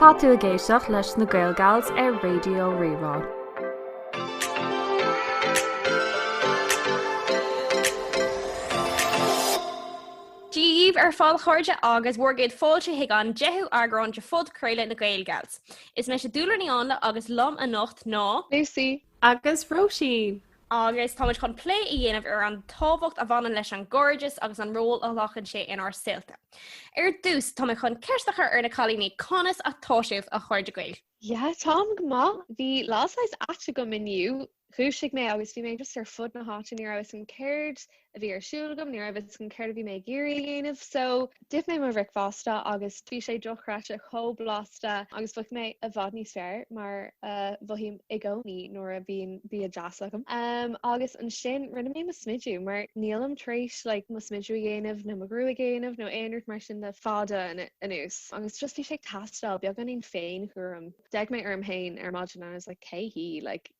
Tá tú ag éisteacht leis na GaelGals ar Raidió Rí-Rá. Dia daoibh ar fad a chairde agus bhur gcéad fáilte chuig an 10ú eagrán de phodchraoladh na GaelGals. Is mise Dúlra Ní Áinle agus liom anocht ná. Lucy, agus Róisín. agus táimid chun plé a dhéanamh ar an tábhacht a bhaineann leis an gcairdeas agus an ról a ghlacann sé inár saolta. Ar dtús, táimid chun ceist a chur ar na cailíní, conas atá sibh, a chairde Gaeil? Yeah, táim go maith. Bhí lá saghas ait agam inniu. Dhúisigh mé agus bhí mé just ar fud na háite, ní raibh 'fhios a'm céard a bhí ar siúl agam, ní raibh fhios agam céard a bhí mé ag iarraidh a dhéanamh so d'ith mé mo bhricfeasta agus bhí sé dochreidte chomh blasta agus bhraith mé i bhfad níos fearr mar a mhothaím i gcónaí nuair a bhíonn bia deas agam. Um agus ansin rinne mé mo smidiú mar nílim tar éis like mo smidiú a dhéanamh nó mo ghruaig a dhéanamh nó aon rud mar sin le fada anuas agus just bhí sé ag teastáil beagáinín féin-chúram. D'fhéach mé orm féin ar maidin and I was like cé hí? Like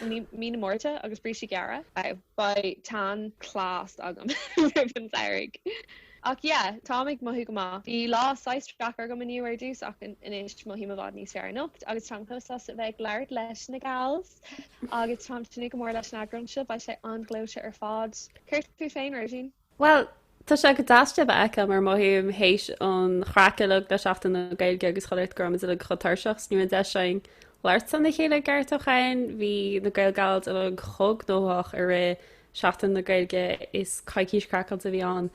I mí mí na Márta agus brístí gearra. Beidh tan class agam roimh an samhradh. Ach yeah, táim ag mothú go maith. Bhí lá saghas deacair agam inniu ar dtús ach anois mothaím i bhfad níos fearr anocht agus táim chomh sásta a bheith ag labhairt leis na gals agus táim ag tnúth go mór leis an eagrán seo, beidh sé an-ghleoite ar fad. Céard fút féin, Róisín? Bhuel, tá sé go deas sibh a fheiceáil mar mothaím théis an chraic uilig le Seachtain na Gaeilge agus chuile shórt go raibh muid uilig chomh tuirseach 's ní raibh an deis againn labhairt lena chéile i gceart ó shin. Bhí na GaelGals uilig chomh gnóthach i rith Seachtain na Gaeilge is coicís craiceáilte a bhí ann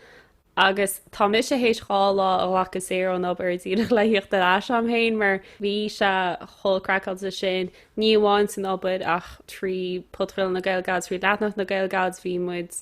agus tá mise théis dhá lá a ghlacadh saor ón obair díreach le thíocht ar ais orm féin mar bhí sé chomh craiceáilte sin, ní amháin san obair ach trí Phodchraoladh na GaelGals agus trí leathanach na GaelGals agus bhí muid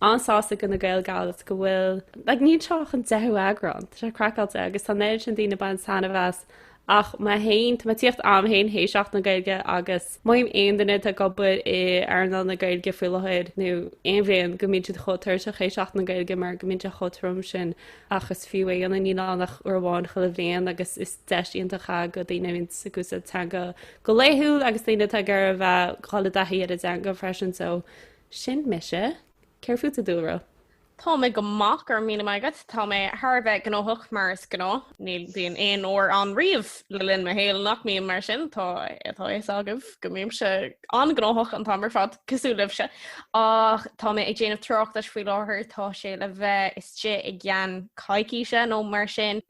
an-sásta go na GaelGals go bhfuil, like, gur seo an deichiú eagrán, tá sé craiceáilte agus tá an oiread sin daoine ban sainmheas ach má théann, tá mé tíocht agam fhéin théis Seachtain na Gaeilge agus measaim aon duine atá ag obair in earnáil na Gaeilge faoi láthair nó aon bhliain go mbíonn siad chomh tuirseach théis Seachtain na Gaeilge mar go mbíonn sé chomh trom sin ach is fiú é a dhéanamh níl ann ach uair amháin chuile bhliain agus is deis iontach é go daoine a bhíonn ag úsáid teanga go laethúil agus daoine atá ag iarraidh a bheith dhul i dtaithí ar a dteanga freisin so Sin mise. Céard fút a Dhúlra? Tá mé go maith, go raibh míle maith agat. Tá mé thar a bheith gnóthach mar is gnáth. Ní bhíonn aon uair ann riamh le linn mo shaoil nach mbím mar sin, tá a fhios agaibh go mbímse an-ghnóthach an t-am ar fad, cosúil libhse. Ach tá mé ag déanamh tráchtais faoi láthair, tá sé le bheith istigh i gceann coicíse nó mar sin.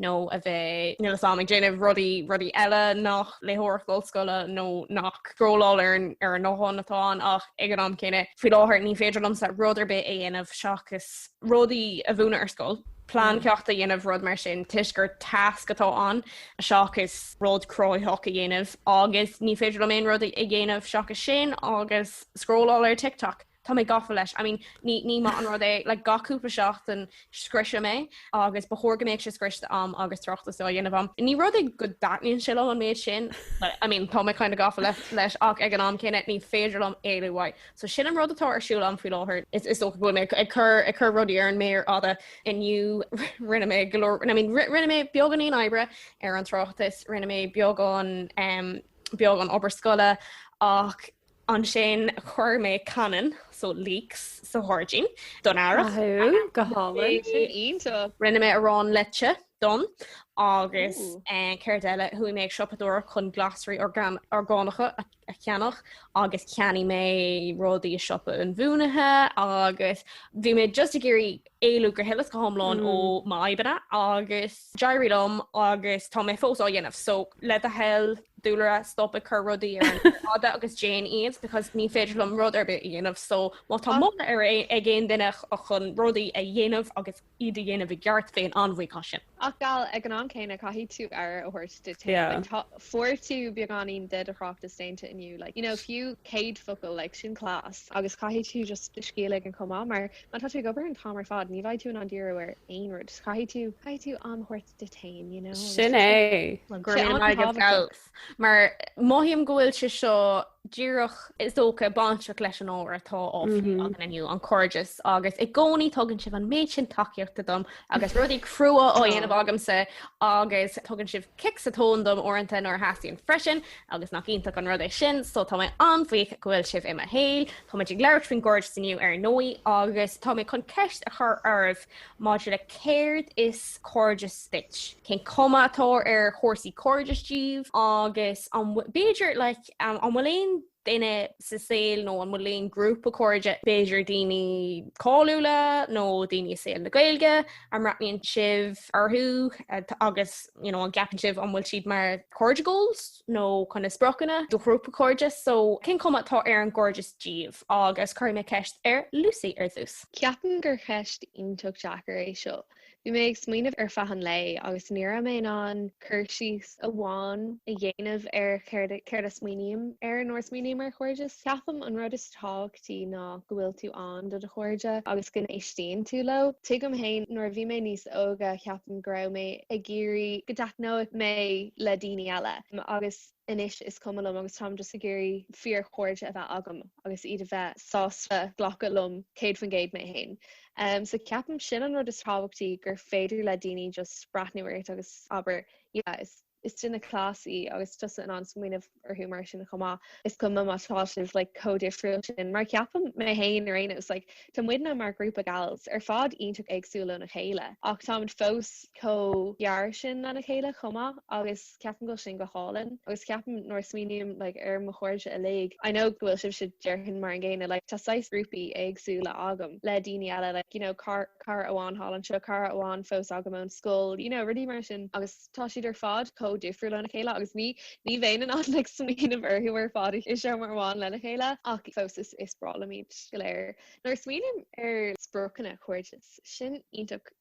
nó a bheith. níl a fhios agam, ag déanamh rudaí rudaí eile nach léitheoireacht ollscoile nó nach scrolláil ar an ar an bhfón atá ann ach ag an am céanna, faoi láthair, ní féidir liomsa rud ar bith a dhéanamh seachas rudaí a mhúineadh ar scoil, plean ceachta a dhéanamh, rud mar sin, toisc gur tasc atá ann seachas rud cruthaitheach a dhéanamh agus ní féidir liom aon rud a dhéanamh seachas sin agus scrolláil ar TikTok. Tá mé gafa leis. I mean, ní, ní maith an rud é, like, gach cúpla seachtain scriosfaidh mé é agus ba chóir go mbeadh sé scriosta agam agus tráchtas á dhéanamh agam. Ní rud é go dtaitníonn sé liom an méid sin, but, I mean, tá mé kind of gafa le, leis ach ag an am céanna ní féidir liom éalú uaidh. So sin an rud atá ar siúl agam faoi láthair. Is, is dócha go bhfuil mé ag, ag cur, ag cur rudaí ar an mhéar fhada inniu. Rinne mé go leor, I mean, ri, rinne mé beagáinín oibre ar an tráchtas, rinne mé beagán, em, beagán obair scoile ach, Ansin chuir mé cainneann, so leaks, sa ghairdín don Earrach. Rinne mé arán leite dom féin agus céard eile, chuaigh mé ag siopadóireacht chun glasraí orgánacha a cheannach agus cheannaigh mé rudaí i siopa an mhúinte agus bhí mé just ag iarraidh éalú go huile is go hiomlán ó m'fhadhbanna agus d'éirigh liom agus tá mé fós á dhéanamh so le do thoil Dúlra stop ag cur rudaí ar an fhada agus déan iad because ní féidir liom rud ar bith a dhéanamh so má tá moladh ar bith ag aon duine chun rudaí a dhéanamh agus iad a dhéanamh i gceart féin an-bhuíoch as sin? Ach a gheall, ag an am céanna, caithfidh tú aire a thabhairt duit féin. Yeah. Like, fuair tú beagáinín de do thráchtas déanta inniu. Like, you know, fiú 100 focal, like, sin class. Agus caithfidh tú just do scíth a ligean chomh maith, mar má tá tú ag obair an t-am ar fad, ní bheidh tú in ann díriú ar aon rud. Just caithfidh tú, caithfidh tú am a thabhairt duit féin, you know, agus sin é. Go raibh míle maith agat, mar mothaím go bhfuil sé seo díreach, is dócha, bainteach leis an ábhar atá á phlé againn inniu, an cairdeas, agus i gcónaí tugann sibh an méid sin tacaíochta dom agus rudaí crua á dhéanamh agamsa agus tugann sibh cic sa tóin dom uaireanta nuair a theastaíonn sé freisin agus nach iontach an rud é sin, so tá mé an-bhuíoch go bhfuil sibh i mo shaol. Táimid ag labhairt faoin gcairdeas inniu, ar ndóigh, agus tá mé chun ceist a chur oraibh. maidir le céard is cairdeas duit, cén chuma atá ar chúrsaí cairdis daoibh agus an bhfuil, b'fhéidir, like an bhfuil aon duine sa saol nó an bhfuil aon ghrúpa cairde, b'fhéidir daoine cáiliúla nó daoine i saol na Gaeilge, a mbreathnaíonn sibh orthu agus you know an gceapann sibh an bhfuil siad mar cairde goals nó cineál spriocanna do ghrúpa cairde so cén chuma atá ar an gcairdeas daoibh agus cuirfidh mé ceist ar Lucy ar dtús. Ceapaim gur cheist iontach deacair é seo. Bhí mé ag smaoineamh ar feadh an lae agus ní raibh mé in ann cur síos amháin a dhéanamh ar céard a smaoiním air nuair a smaoiním ar chairdeas. Ceapaim an rud is tábhachtaí ná go bhfuil tú ann do do chairde agus go n-éistíonn tú leo. Tuigim féin nuair a bhí mé níos óige ceapaim go raibh mé ag iarraidh go dtaitneodh mé le daoine eile agus. anois is cuma liom agus táim just ag iarraidh fíorchairde a bheith agam agus iad a bheith sásta glacadh liom céad faoin gcéad mé féin. So ceapaim sin an rud is tábhachtaí gur féidir le daoine just breathnú ort agus abair yeah is is duine class í agus tusa in ann smaoineamh orthu mar sin chomh maith. Is cuma má tá sibh like chomh difriúil sin mar ceapaim mé féin ar aon nós like tá muidne mar ghrúpa gals ar fad iontach éagsúil óna chéile ach táimid fós chomh gar sin lena chéile chomh maith agus Ceapaim go bhfuil sin go hálainn agus ceapaim nuair a smaoiním like ar mo chairde uilig, I know go bhfuil sibhse déarfainn mar an gcéanna like tá saghas grúpaí éagsúla agam le daoine eile like you know cara amháin thall anseo, cara amháin fós agam ón scoil, you know rudaí mar sin agus tá siad ar fad chomh difriúil lena chéile agus ní ní bheinn in ann like smaoineamh orthu ar fad i seomra amháin lena chéile ach fós is is breá liom iad go léir. Nuair a smaoiním ar spriocanna cairdis, sin iontach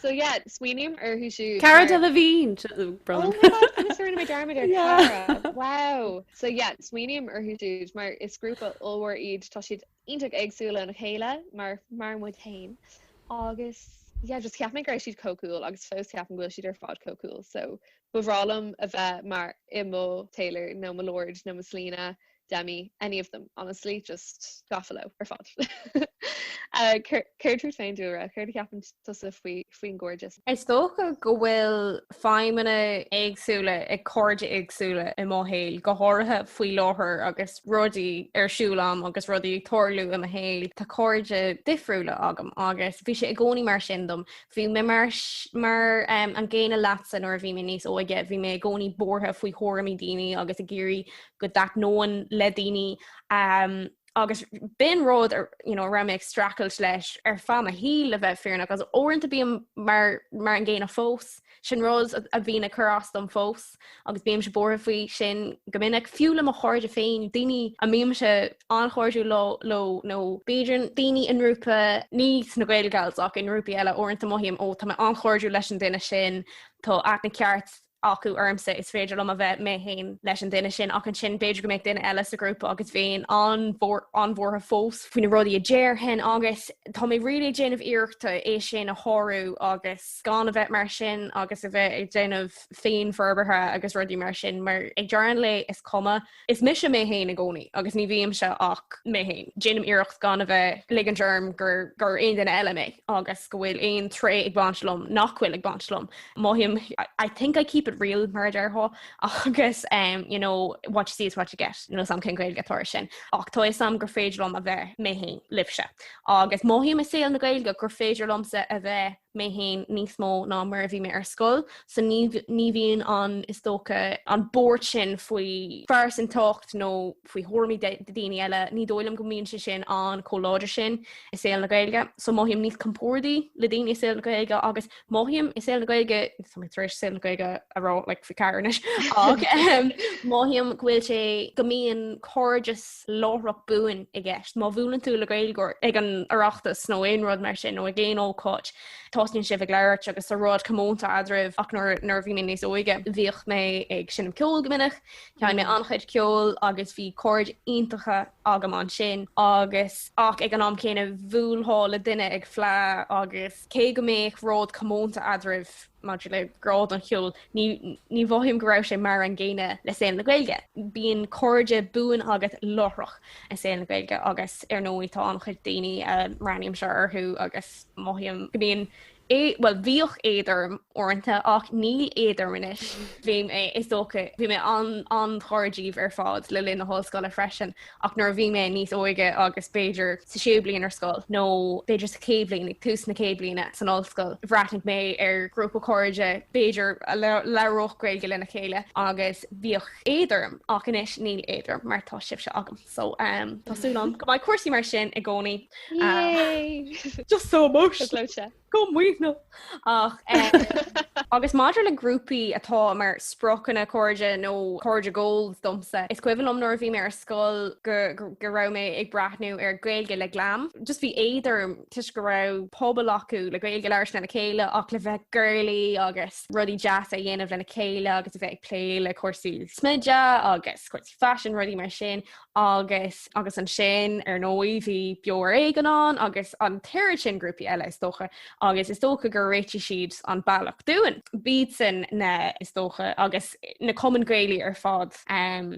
So yeah, smaoiním orthu siúd. Cara Delevingne! Oh my god, agus rinne mé dearmad ar Cara. Wow! So yeah, smaoiním orthu siúd mar is grúpa ollmhór iad, tá siad iontach éagsúla óna chéile mar mar muid féin agus yeah, just cheap mé go raibh siad chomh cool agus fós ceapaim go bhfuil siad ar fad chomh cool so ba bhreá liom a bheith mar i mo Taylor nó mo Lorde nó mo Selena Demi, any of them, honestly, just gafa leo ar fad. Céard fút féin Dúlra? Céard a cheapann tusa faoin gcairdeas? Is dócha go bhfuil feidhmeanna éagsúla ag cairde éagsúla i mo shaol, go háirithe faoi láthair agus rudaí ar siúl a'm agus rudaí ag tarlú i mo shaol, tá cairde difriúla agam agus bhí sé i gcónaí mar sin dom. Bhí mé mar an gcéanna leatsa nuair a bhí mé níos óige, bhí mé i gcónaí buartha faoi thuairimí daoine agus ag iarraidh go dtaitneoinn le daoine agus b'in rud a raibh mé ag streachailt leis ar feadh mo shaoil le bheith fírinneach agus uaireanta bím mar an gcéanna fós, sin rud a bhíonn ag cur as dom fós agus bímse buartha faoi sin go minic, fiú le mo chairde féin, daoine a mbímse an-chairdiúil leo nó b'fhéidir daoine i ngrúpa ní sna Gael Gals ach i ngrúpaí eile, uaireanta mothaím 'ó tá mé an-chairdiúil leis an duine sin, tá aithne cheart acu ormsa, is féidir liom a bheith mé féin leis an duine sin, ach ansin b'fhéidir go mbeadh duine eile sa ghrúpa agus bheinn an-bhuartha fós faoi na rudaí a déarfainn agus tá mé really ag déanamh iarrachta é sin a shárú agus gan a bheith mar sin agus a bheith ag déanamh féinfhorbartha agus rudaí mar sin mar ag deireadh an lae is cuma Is mise mé féin i gcónaí agus ní bhímse ach mé féin. Déanaim iarracht gan a bheith ag ligint orm gur gur aon duine eile mé agus go bhfuil aon tréith ag baint liom nach bhfuil ag baint liom. Mothaím I think I keep it real mar a déarfá agus um, you know, what you see is what you get níl a fhios agam cén Gaeilge atá ar sin. Ach tá a fhios agam gur féidir liom a bheith mé féin libhse. Agus mothaím i saol na Gaeilge gur féidir liomsa a bheith mé féin níos mó ná mar a bhí mé ar scoil, so ní, ní bhíonn an, is dócha, an bhuairt sin faoi phearsantacht nó faoi thuairimí de, de daoine eile, ní dóigh liom go mbíonn sé sin an chomh láidir sin i saol na Gaeilge. So mothaím níos compordaí le daoine i saol na Gaeilge agus mothaím i saol na Gaeilge, tá mé tar éis saol na Gaeilge a rá like faoi cheathair anois, ach mothaím go bhfuil sé, go mbíonn cairdeas láithreach buan i gceist. Má bhuaileann tú le Gaeilgeoir ag an Oireachtas nó aon rud mar sin nó ag aon ócáid, tosnaíonn sibh ag labhairt agus tá rud comónta eadraibh ach nuair nuair a bhí mé níos óige, bhíodh mé ag seinm ceoil go minic, sheinn mé an-chuid ceoil agus bhí cairde iontacha agam ansin agus ach ag an am céanna bhuailfeá le duine ag fleá agus cé go mbeadh rud comónta eadraibh, Maidir le grá don cheol, ní ní mhothaím go raibh sé mar an gcéanna le saol na Gaeilge. Bíonn cairde buan agat láithreach i saol na Gaeilge agus, ar ndóigh, tá an-chuid daoine a mbreathnaímse orthu agus mothaím go mbíonn é, bhuel, bhíodh éad orm uaireanta ach níl éad orm anois. Bhí mé, is dócha, bhí mé an-ghar daoibh ar fad le linn na hollscoile freisin ach nuair a bhí mé níos óige agus b'fhéidir sa séú bliain ar scoil nó b'fhéidir sa chéad bhliain, ag tús na chéad bhliana san ollscoil, bhreathnaigh mé ar ghrúpa cairde b'fhéidir a labhródh Gaeilge lena chéile agus bhíodh éad orm ach anois níl éad orm mar tá sibhse agam. So tá súil agam go mbeidh cúrsaí mar sin i gcónaí Just so emotional. Chomh maoithneach agus maidir le grúpaí atá mar spriocanna cairde nó cairde goals domsa, is cuimhin liom nuair a bhí mé ar scoil go go raibh mé ag breathnú ar Gaeilge le Glam, just bhí éad orm toisc go raibh pobal acu le Gaeilge a labhairt lena chéile ach le bheith girly agus rudaí deasa a dhéanamh lena chéile agus a bheith ag plé le cúrsaí smididh agus cúrsaí faisin, rudaí mar sin agus agus ansin, ar ndóigh, bhí Beo Ar Éigean ann agus an t-oiread sin grúpaí eile, is dócha, agus is dócha gur réitigh siad an bealach dúinn. B'iadsan na, is dócha, agus na cumainn Ghaelaí ar fad,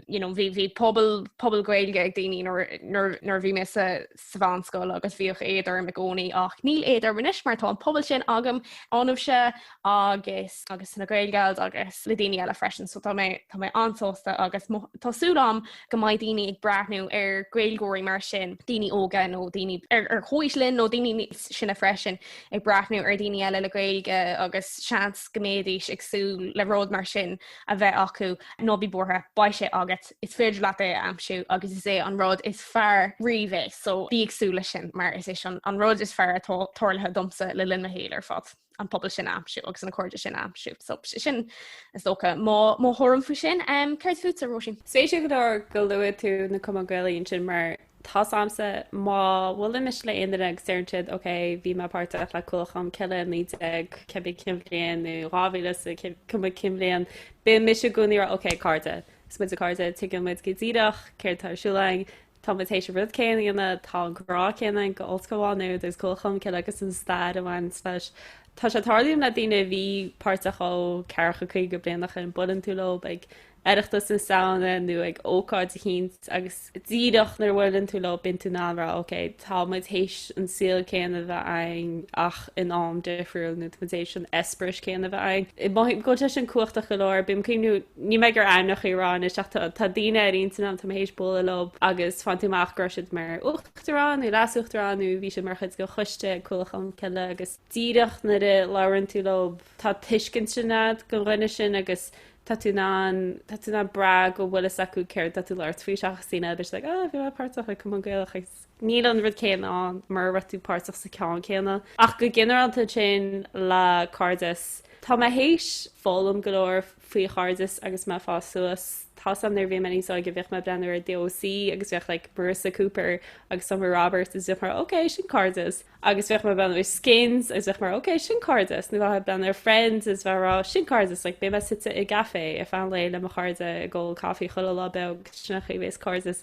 you know, bhí pobal, pobal Gaeilge ag daoine nuair, nuair, nuair a bhí mé sa, sa mheánscoil agus bhíodh éad orm i gcónaí ach níl éad orm anois mar tá an pobal sin agam ionaibhse agus agus na Gael Gals agus le daoine eile freisin so tá mé tá mé an-sásta agus mo tá súil agam go mbeidh daoine ag breathnú ar Gaeilgeoirí mar sin daoine óga nó daoine ar ar comhaois linn nó daoine níos sine freisin ag breathnú ar daoine eile le Gaeilge agus seans go mbeidís ag súil le rud mar sin a bheith acu ná bí buartha beidh sé agat. is féidir leat é a aimsiú agus is é an rud is fearr riamh é, so bí ag súil leis sin mar is é sin an rud is fearr atá tarlaithe domsa le linn mo shaoil ar fad, an pobal sin a aimsiú agus na cairde sin a aimsiú, so sin is dócha mo mo thuairim faoi sin. Céard fútsa Róisín? Spéisiúil go leor go luaigh tú na Cumainn Gaelaí ansin mar tá fhios a'msa má bhuailimse le aon duine agus deireann siad ok bhí mé páirteach le Cuallacht Cholm Cille 19 cibé cén bhliain nó 2000 is cibé cén bhliain bíonn mise i gcónaí ag rá ok cairde Is muide cairde, tuigeann muid go díreach céard tá ar siúl againn, tá muid théis an rud céanna a dhéanamh, tá an grá céanna againn go Ollscoil Mhá Nuad agus Cuallacht Cholm Cille agus an stair a bhaineanns leis. Tá sé ag tarlú liom le daoine a bhí páirteach ó ceathracha caoga bliain ó shoin, buaileann tú leob ag Oireachtas na Samhna nó ag ócáid eicínt agus. díreach nuair a bhuaileann tú leob bíonn tú in ann a rá ok tá muid théis an saol céanna a bheith againn ach in am difriúil nó tá muid théis an eispéireas céanna a bheith againn. Mothaím go bhfuil sé sin cumhachtach go leor bím ag cuimhniú níl mé ag dul ainmneachaí a rá anois ach tá tá daoine ar ínteanam tá mé théis bualadh leob agus faigheann tú amach go raibh siad mar uachtarán nó leasuachtarán nó bhí siad mar chuid den choiste ag Cuallacht Cholm Cille agus díreach nuair a labhraíonn tú leob tá tuiscint ansin agat den duine sin agus tá tú in ann, tá tú in ann brath go bhfuil fhios acu céard atá tú ag labhairt faoi seachas daoine a bhéas like, ah, bhí mé páirteach i Cumann Gaelach agus níl an rud céanna ann mara raibh tú páirteach sa ceann céanna. Ach go ginearálta sin le cairdeas, tá mé théis foghlaim go leor faoi chairdeas agus mé ag fás suas. Tá fhios a'm nuair a bhí mé níos óige, bhíodh mé ag breathnú ar The OC agus bhíodh like Marissa Cooper agus Summer Roberts agus bhíodh mé, ok, sin cairdeas. agus bhíodh mé ag breathnú ar Skins agus bhíodh mé ok sin cairdeas nó bhíodh mé ag breathnú ar Friends is bhíodh mé ag rá sin cairdeas like beidh mé suite i gcafé ar feadh an lae le mo chairde ag ól coffee chuile lá beag sin an chaoi a bhéas cairdeas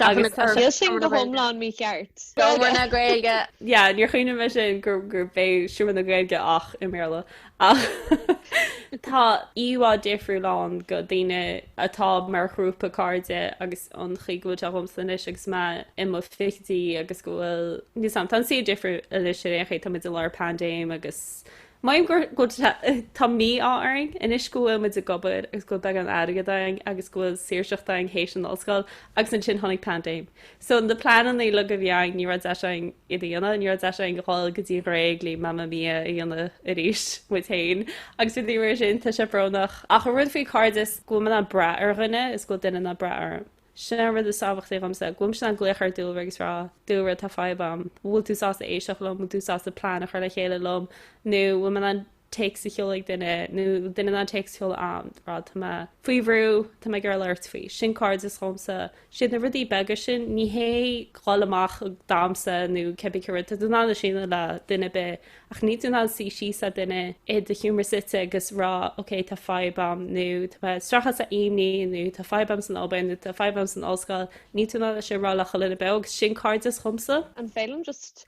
agus tá sé Níl sin go hiomlán mícheart. Seomra na Gaeilge. yeah níor chuimhnigh mé sin gur gurb é Seomra na Gaeilge ach i mBéarla. Ach tá íomhá difriúil ann go daoine atá mar ghrúpa cairde agus an chaoi go bhfuil sé dhomsa anois agus mé i mo fichidí agus go bhfuil, níl fhios a'm, tá an suíomh difriúil anois ar aon chaoi, tá muid i lár paindéim agus mothaím gur, go, tá mí-ádh orainn anois go bhfuil muid ag obair agus go bhfuil beagán airgid againn agus go bhfuil saoirseacht againn théis an ollscoil agus ansin tháinig paindéim. So na pleanannaí uilig a bhí againn ní raibh deis againn iad a dhéanamh, ní raibh deis againn dhul go dtí an Ghréig le Mamma Mia a dhéanamh arís muid féin agus i dtaobh an rud sin tá sé brónach ach an rud faoi cairdeas go bhfuil mé in ann brath ar dhuine is go bhfuil duine in ann brath orm. Sin an rud is tábhachtaí dhomsa, go bhfuil mise in ann glaoch ar Dúlra agus rá Dúlra tá fadhb a'm, bhfuil tú sásta éisteach liom, bhfuil tú sásta plean a chur le chéile liom nó bhfuil mé in ann téacs a sheoladh ag duine nó duine in ann téacs a sheoladh a'm ag rá, tá mé faoi bhrú, tá mé ag iarraidh labhairt faoi. Sin cairdeas dhomsa. Siad na rudaí beaga sin, ní hé dhul amach ag damhsa nó cibé cén rud, tá tú in ann é sin a dhéanamh le duine ar bith ach níl tú in ann suí síos le duine i do sheomra suite agus rá ok tá fadhb a'm nó tá mé stractha as an imní nó tá fadhb a'm san obair nó tá fadhb a'm san ollscoil, níl tú in ann é sin a rá le chuile duine beo agus sin cairdeas dhomsa. An bhfeidhm just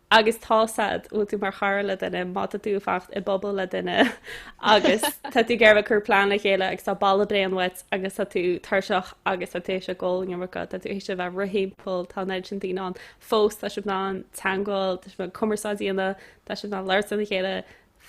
agus tá a fhios a'd, bhfuil tú mar chara le duine, má tá tú ag fanacht i bpuball le duine agus tá tú ag iarraidh cur plean le chéile agus tá boladh bréan uait agus tá tú tuirseach agus tá tú théis a bheith ag ól an iomarca, tá tú théis a bheith ag rith timpeall, tá an oiread sin daoine ann fós, tá sibh in ann teangmháil, tá sibh in ann cumarsáid a dhéanamh, tá sibh in ann labhairt lena chéile,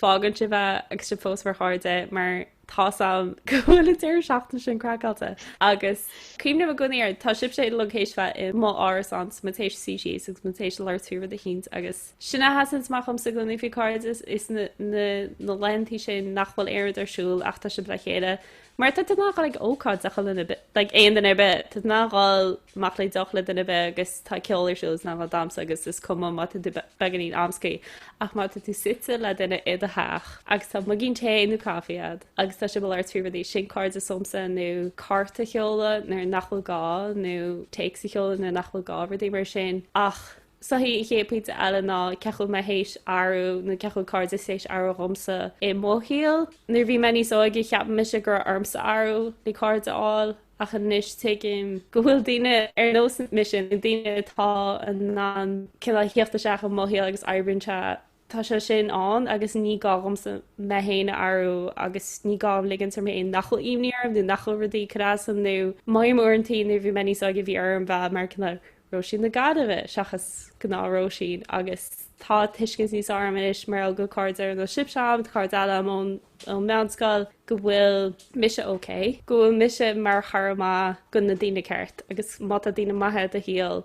fágann sibh é agus sibh fós mar chairde mar tá a fhios a'm go bhfuil an deireadh seachtaine sin craiceáilte agus cuimhním i gcónaí air tá sibhse uilig théis bheith i mo árasánsa muid théis suí síos agus muid théis labhairt faoi rud eicínt agus sin a sheasann amach dhomsa i gcónaí faoi cairdeas is na na na laethantaí sin nach bhfuil aon rud ar siúl ach tá sibh le chéile Mar tá tú in ann dhul ag ócáid le chuile duine ar bith, like, aon duine ar bith, tá tú in ann dhul amach le deoch le duine ar bith agus tá ceol ar siúl is in ann dhul ag damhsa agus is cuma má tá tú beagáinín amscaí ach má tá tú suite le duine i do theach agus tá muigín tae nó caife a'd agus tá sibh ag labhairt faoi rudaí, sin cairdeas domsa nó cárta a sheoladh nuair nach bhfuil gá nó téacs a sheoladh nuair nach bhfuil gá, rudaí mar sin ach. So I think an chéad pointe eile ná cén chaoi a bhfuil mé théis athrú nó cén chaoi a bhfuil cairdeas théis athrú dhomsa i mo shaol. Nuair a bhí mé níos óige cheap mise go raibh ormsa athrú le cairde a fháil ach anois tuigim go bhfuil daoine ar nós mise, nó daoine atá in ann cineál a thíocht isteach i mo shaol agus oibríonn sé tá sé sin ann agus ní gá dhomsa mé féin a athrú agus ní gá dhom ligint orm féin nach bhfuil imní orm nó nach bhfuil rudaí ag cur as dom nó mothaím uaireantaí nuair a bhí mé níos óige bhí orm bheith mar cineál Róisín na Gaillimhe seachas gnáth Róisín agus tá tuiscint níos fearr a'm anois mar gheall go cairde ar nós sibhse a'm cairde eile a'm ón ón meánscoil go bhfuil mise ok go bhfuil mise mar chara maith do na daoine ceart agus má tá daine maithe i do shaol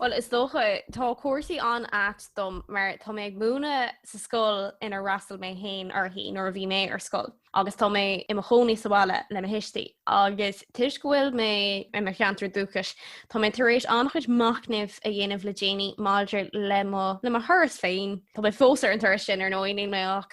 Bhuel, is dócha, tá cúrsaí an-ait dom mar tá mé ag múineadh sa scoil inar fhreastail mé féin uirthi nuair a bhí mé ar scoil agus tá mé i mo chónaí sa bhaile le mo thuistí. Agus toisc go bhfuil mé i mo cheantar dúchais, tá mé tar éis an-chuid machnaimh a dhéanamh le déanaí maidir le mo thuras féin. Tá mé fós ar an turas sin, ar ndóigh, níl mé ach.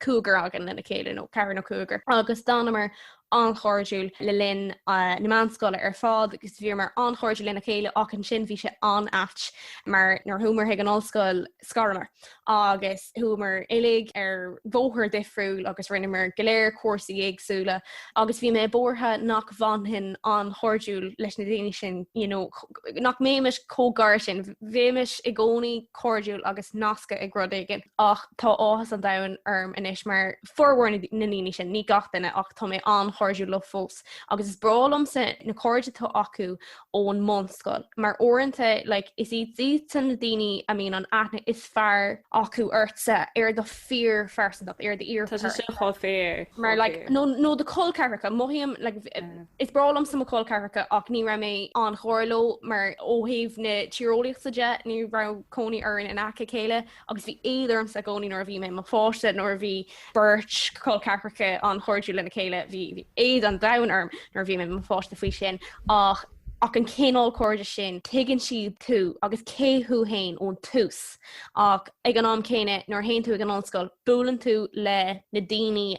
cúigear againn lena chéile, nó ceathrar nó cúigear, agus d'fhanamar an-chairdiúil le linn na meánscoile ar fad agus bhíomar an-chairdiúil lena chéile ach ansin bhí sé an-ait mar nuair a chuamar chuig an ollscoil scaramar agus chuamar uilig ar bhóthar difriúil agus rinneamar go léir cúrsaí éagsúla agus bhí mé buartha nach bhfanfainn an-chairdiúil leis na daoine sin, you know, nach mbeimis chomh gar sin, bheimis i gcónaí cairdiúil agus nasctha ag rud éigin. Ach tá áthas an domhain orm anois mar formhór na ndaoine sin, ní gach duine ach tá mé an-chairdiúil leo fós agus is breá liomsa na cairde atá acu ón mbunscoil mar uaireanta like is iad san na daoine a mbíonn an aithne is fearr acu ortsa ar do fíorphearsantacht, ar do fhíorcharac. Tá sé seo chomh fíor, chomh fíor. Mar like nó nó do col ceathracha, mothaím like Is breá liomsa mo chol ceathracha ach ní raibh mé an-mhór leo mar ó thaobh na tíreolaíochta de ní raibh cónaí orainn in aice a chéile agus bhí éad ormsa i gcónaí nuair a bhí mé i mo pháiste, nuair a bhí beirt chol ceathracha an-chairdiúil lena chéile bhí éad an domhain orm nuair a bhí mé i mo pháiste faoi sin ach ach an cineál cairde sin tuigeann siad tú agus cé thú fhéin ón tús ach ag an am céanna nuair a théann tú ag an ollscoil buaileann tú le na daoine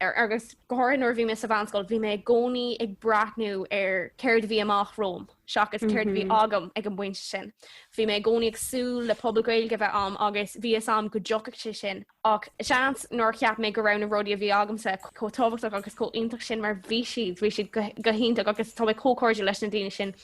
Agus go háirithe nuair a bhí mé sa mheánscoil, bhí mé i gcónaí ag breathnú ar céard a bhí amach romham seachas céard a bhí agam ag an bpointe sin. Bhí mé i gcónaí ag súil le pobal Gaeilge a bheith a'm agus bhí fhios agam go dtiocfadh sé sin. Ach seans nár cheap mé go raibh na rudaí a bhí agamsa chomh tábhachtach agus chomh iontach sin mar bhí siad. Bhí siad go hiontach agus tá mé chomh cairdiúil leis na daoine sin.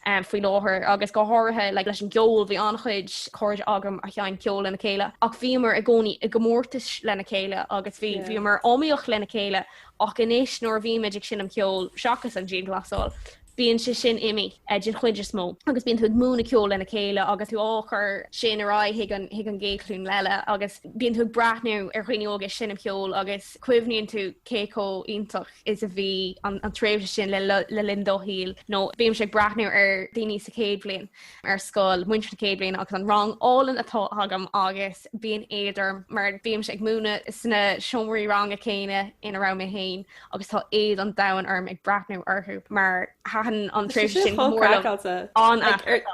faoi láthair agus go háirithe leis an gceol. Bhí an-chuid cairde agam a sheinn ceol lena chéile ach bhíomar i gcónaí i gcomórtas lena chéile agus bhíomar iomaíoch lena chéile ach anois nuair a bhímid ag seinm ceoil, seachas an dianghlasáil, bíonn sé sin imithe, den chuid is mó, agus bíonn tú ag múineadh ceoil lena chéile agus tú á chur sin ar aghaidh chuig an gcéad ghlúin eile agus bíonn tú ag breathnú ar dhaoine óga ag seinm ceoil agus cuimhníonn tú cé chomh iontach is a bhí an tréimhse sin le linn do shaoil, nó bímse ag breathnú ar daoine sa chéad bhliain ar scoil, muintir na chéad bhliana, agus an rang álainn atá agam agus bíonn éad orm mar bímse ag múineadh sna seomraí ranga céanna ina raibh mé féin agus tá éad an domhain orm ag breathnú orthu mar thaitin an tréimhse sin go mór liom.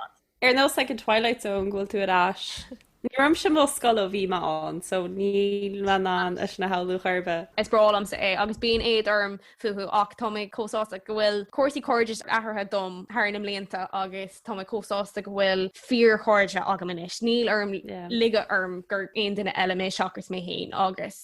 Ar nós ag an Twilight Zone go bhfuil tú ar ais. Ní raibh mise i mo scoil ó bhí mé ann so níl mé in ann é sin a shamhlú ar chor ar bith. Is breá liomsa é agus bíonn éad orm fúthu ach tá mé chomh sásta go bhfuil cúrsaí cairdis athraithe dom thar na mblianta agus tá mé chomh sásta go bhfuil fíorchairde agam anois. Níl orm ligean orm gur aon duine eile mé seachas mé féin agus.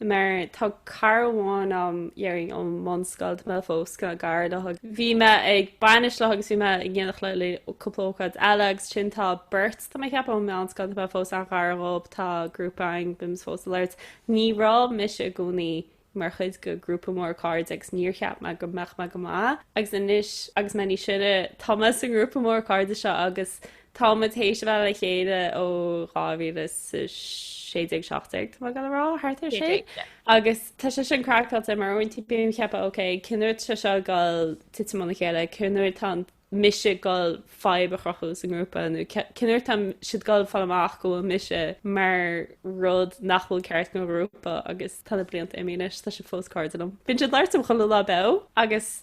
Mar tá cara amháin a'm déarfainn ón mbunscoil, tá mé fós cineál gar léi ag, bhí mé ag bainis léi agus bhí mé in éineacht léi cúpla ócáid eile agus ansin tá beirt tá mé a cheapadh ón meánscoil, tá mé fós an-ghar dhóib, tá grúpa againn, bímse fós ag labhairt. Ní raibh mise i gcónaí mar chuid de ghrúpa mór cairde agus níor cheap mé go mbeadh mé go maith agus anois agus mé níos sine, tá mé sa ngrúpa mór cairde seo agus Táimid théis a bheith le chéile ó 2016, 17, tá mé ag goil a rá, thart ar sin. Agus tá sé sin craiceáilte mar uaireanta bím ag ceapadh, ok, cén uair atá sé seo ag dul titim óna chéile, cén uair atá mise ag dul fadhb a chruthú sa ngrúpa, nó cén uair atá siad ag dul fáil amach go bhfuil mise mar rud nach bhfuil ceart don ghrúpa, agus tá na blianta imithe anois, tá sé fós cairde liom. Bíonn siad ag labhairt liom chuile lá beo, agus.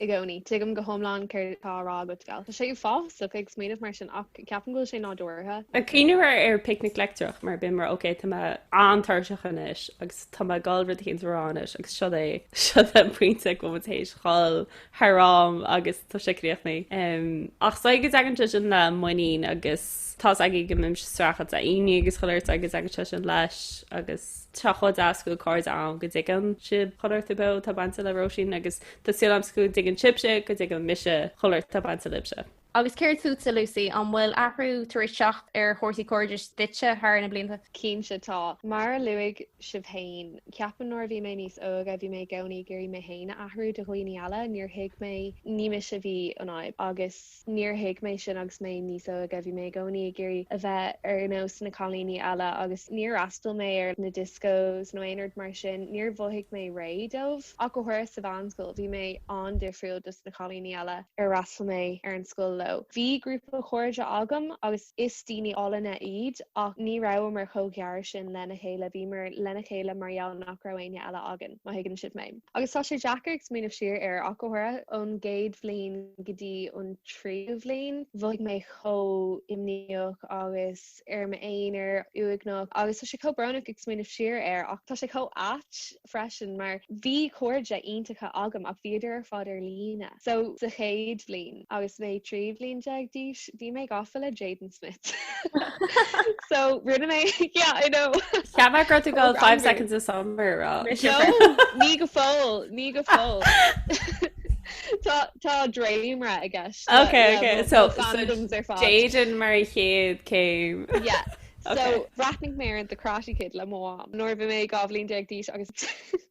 i gcónaí. Tuigim go hiomlán céard atá á rá agat, gal. Tá sé uafásach ag smaoineamh mar sin ach ceapaim go bhfuil sé nádúrtha. Ag cuimhneamh ar ar Picnic Leictreach mar bím mar, okay, tá mé an-tuirseach anois agus tá mé ag dul rud éigin a rá anois agus siod é, siod an pointe go bhfuil mé tar éis dhul thar am agus tá sé críochnaithe. Em, ach is dóigh go dtagann sé sin le muinín agus tá's agaibh go mbímse ag streachailt le imní agus chuile shórt agus tagann sé sin leis agus, Tá chomh deas go bhfuil cairde agam go dtuigeann siad chuile shórt beo atá bainte le Róisín, agus tá súil agam go dtuigeann sibhse go dtuigeann mise chuile shórt atá bainte libhse. Agus céard fútsa, Lucy, an bhfuil athrú tar éis teacht ar chúrsaí cairdis duitse thar na blianta? Cinnte tá. Mar a luaigh sibh féin, ceapaim nuair a bhí mé níos óige, bhí mé i gcónaí ag iarraidh mé féin a athrú do dhaoine eile, níor thuig mé, ní mise a bhí an fhadhb, agus. Níor thuig mé sin agus mé níos óige, bhí mé i gcónaí ag iarraidh a bheith ar nós na cailíní eile agus níor fhreastail mé ar na discos nó aon rud mar sin, níor mhothaigh mé réidh dóibh. Ach go háirithe sa mheánscoil, bhí mé an-difriúil dos na cailíní eile ar fhreastail mé ar an scoil leo. Bhí grúpa cairde agam agus is daoine álainne iad ach ní rabhamar chomh gar sin lena chéile, bhíomar lena chéile mar gheall nach raibh éinne eile againn, má thuigeann sibh mé. Agus tá sé deacair ag smaoineamh siar air ach go háirithe, ón gcéad bhliain go dtí an tríú bhliain, mhothaigh mé chomh imníoch agus ar m'aonar, uaigneach agus tá sé chomh brónach ag smaoineamh siar air ach tá sé chomh ait freisin mar bhí cairde iontacha agam ach bhíodar ar fad ar líne so sa chéad bhliain. agus mé trí bhliain déag d'aois bhí mé gafa le Jaden Smith so rinne mé yeah I know Cheap mé go raibh tú ag goil 5 Seconds of Summer a rá ní go fóill ní go fóill Tá tá dréimra i gceist Ok ok so Jaden mar chéad céim yeah so bhreathnaigh mé ar an The Karate Kid le mo mham nuair a bhí mé dhá bhliain déag d'aois agus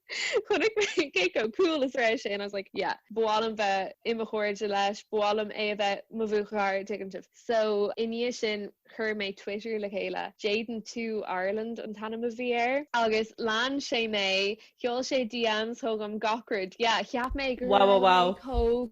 Chonaic mé cé chomh cool is a raibh sé and I was like, yeah. Ba mhaith liom bheith i mo chairde leis, ba mhaith liom é a bheith mo bhuachaill, tuigeann sibh. So, i ndiaidh sin, chuir mé Twitter le chéile. Jayden To Ireland an t-ainm a bhí air. Agus lean sé mé, sheol sé DMs chugam gach rud. Yeah, cheap mé gur Wow, wow, raibh mé wow. chomh.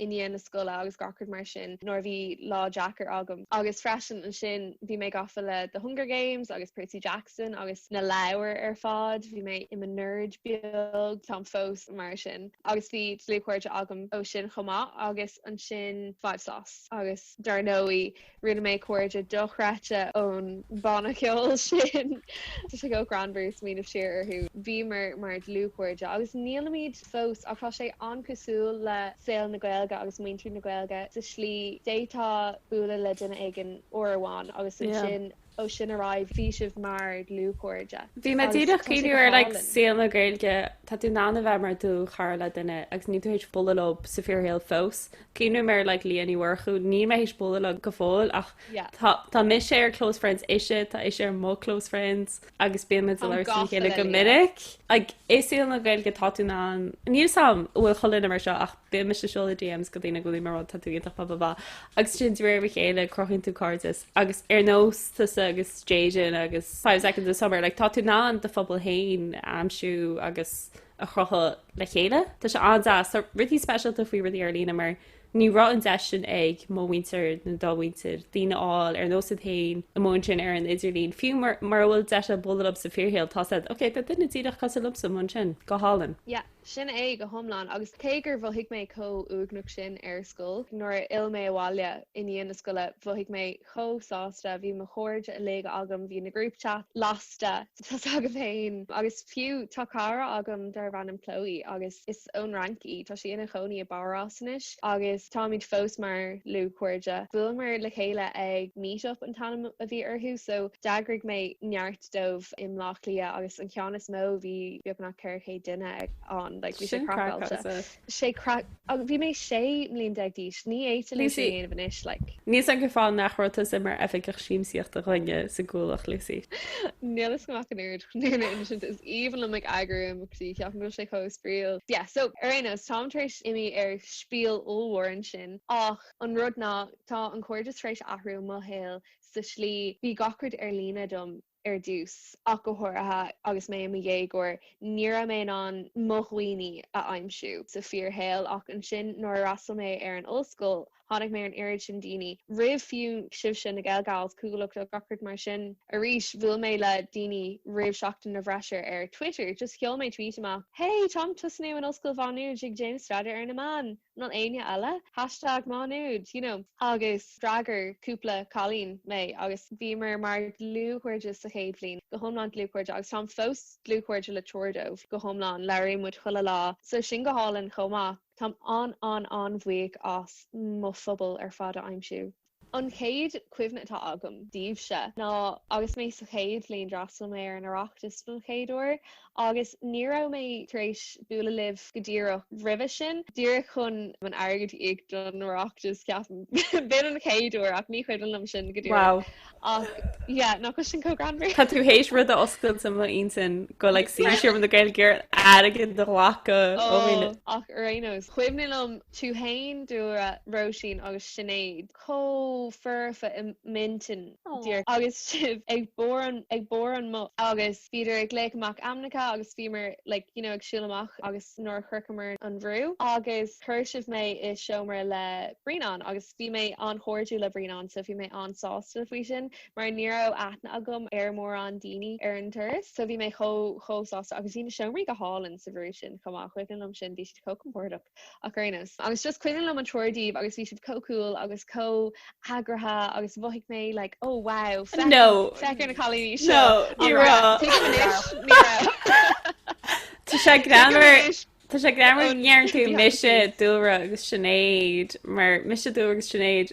i ndiaidh na scoile agus gach rud mar sin nuair a bhí lá deacair agam. Agus freisin ansin bhí mé gafa le The Hunger Games agus Percy Jackson agus na leabhair ar fad, bhí mé i mo nerd beag, táim fós, mar sin. Agus bhí dlúthchairde agam ó sin chomh maith agus ansin Five SOS agus dar ndóigh, Rinne mé cairde dochreidte ón bhanna ceoil sin. Tá sé chomh greannmhar smaoineamh siar orthu. Bhíomar mar dlúthchairde agus nílimid fós ach tá sé an-chosúil le saol na Gaeilge agus muintir na Gaeilge sa slí d'fhéadfá bualadh le duine éigin uair amháin agus ansin, Ó sin ar aghaidh bhí sibh mar dlúthchairde. Bhí mé agus díreach tá sé go cuimhneamh ar like hálainn. saol na Gaeilge, tá tú in ann a bheith mar do chara le duine agus níl tú théis bualadh leo sa fíorshaol fós. Cuimhneamh ar like Liadh Ní Mhurchú, níl mé théis bualadh leo go fóill ach Yeah. tá tá mise ar close friends ise, tá ise ar mo close friends agus bíonn muid ag Táim labhairt lena gafa chéile le go Liadh. minic. Like i saol na Gaeilge tá tú in ann, níl 's 'am an bhfuil chuile dhuine mar seo ach bíonn mise ag seoladh DMs go daoine agus bíonn mé mar rud, tá tú iontach blah blah blah agus ansin de réir a chéile cruthaíonn tú cairdeas. agus ar nós tusa agus Jayden agus Five Seconds of Summer, like, tá tú in ann do phobal féin a aimsiú agus a chruthú le chéile. Tá sé an-deas. Tá rudaí speisialta faoi rudaí ar líne mar ní raibh an deis sin ag mo mhuintir nó do mhuintir, daoine a fháil ar nós iad féin i mbun sin ar an idirlíon. Fiú mura bhfuil deis agat bualadh leo sa fíorshaol, tá's agat, ok, tá duine díreach cosúil liomsa i mbun sin. Go hálainn. Yeah, Sin é go hiomlán. Agus cé gur mhothaigh mé chomh uaigneach sin ar scoil, nuair a fhill mé abhaile i ndiaidh na scoile, mhothaigh mé chomh sásta. Bhí mo chairde uilig agam, bhí na group chats lasta, tá's agaibh féin. Agus fiú, tá cara agam darb ainm Chloe agus is ón Fhrainc í. Tá sí ina chónaí i bPárás anois agus táimid fós mar dhlúthchairde. Bhuaileamar le chéile ag Meet Up an t-ainm a bhí orthu, so d'eagraigh mé neart. dóibh i mBleá Cliath agus an ceann is mó bhí beagnach 400 duine ann, like bhí sé craiceáilte. sé craic agus bhí mé 16 mbliain d'aois, ní féidir liom sin a dhéanamh anois like. Níl 's 'am go fóill nach raibh tusa mar oifigeach siamsaíochta againne sa gCuallacht, Lucy. Níl fhios agam achan oiread chun daoine insint, is aoibhinn liom ag eagrú imeachtaí, ceapaim go bhfuil sé chomh spraíúil, yeah, so ar aon nós táim tar éis imí ar spiel ollmhór ansin ach an rud ná tá an cairdeas tar éis athrú i mo shaol sa slí. Bhí gach rud ar líne dom ar dtús, ach go háirithe agus mé i mo dhéagóir, ní raibh mé in ann mo dhaoine a aimsiú sa fíorshaol. Ach ansin, nuair a fhreastail mé ar an ollscoil, tháinig mé ar an oiread sin daoine, roimh fiú sibhse, na GaelGals, Cuallacht, like, gach rud mar sin. Arís, bhuail mé le daoine roimh seachtain na bhFreisear ar Twitter, just sheol mé tweet amach, Hey, táim ag tosnú in Ollscoil Mhá Nuad, ag déanamh staidéar ar na meáin! nó éinne eile, hashtag Má Nuad, you know. Agus d'fhreagair cúpla cailín mé agus bhíomar mar dlúthchairde sa chéad bhliain, go hiomlán dlúthchairde, agus táim fós dlúthchairde le triúr dóibh, go hiomlán, labhraíonn muid chuile lá, so sin go hálainn chomh maith. Táim an-an-an-bhuíoch as mo phobal ar fad a aimsiú. An chéad chuimhne atá agam díbhse ná agus mé sa chéad bhliain d'fhreastail mé ar an Oireachtas don chéad uair agus ní raibh mé tar éis bualadh libh go díreach roimhe sin, díreach chun an airgead a íoc don Oireachtas ceapaim. B'in an chéad uair ach ní cuimhin liom sin go díreach. Wow. Ach yeah, nach bhfuil sin chomh greannmhar. Tá tú théis rud a oscailt i m'intinn, go like Seomra na Gaeilge ar airgead a ghlacadh. Ó, ach ar aon nós, cuimhin liom tú fhéin, Dúlra, Róisín agus Sinéad chomh foirfe i m'intinn díreach agus sibh ag ag barr an mbus agus bhíodar ag glaoch amach ainmneacha agus bhíomar like you know ag siúl amach agus nuair a shroicheamar an bhrú agus chuir sibh mé i seomra le Brianán agus bhí mé an-chairdiúil le Brianán so bhí mé an-sásta faoi sin mar ní raibh aithne agam ar mórán daoine ar an turas so bhí mé chomh chomh sásta agus bhí na seomraí go hálainn sa bhrú sin chomh maith cuimhin liom sin bhí siad chomh compordach. ach ar aon nós. Agus just cuimhin liom an triúr díbh agus bhí sibh chomh cool agus chomh heagraithe agus mhothaigh mé like oh wow féach- No. féach ar na cailíní seo No, ní Alright, raibh. tuigim anois, ní raibh. Tá sé greannmhar Anois, Tá sé greannmhar go ndeireann tú Yeah. mise Dúlra agus Sinéad mar mise Dúlra agus Sinéad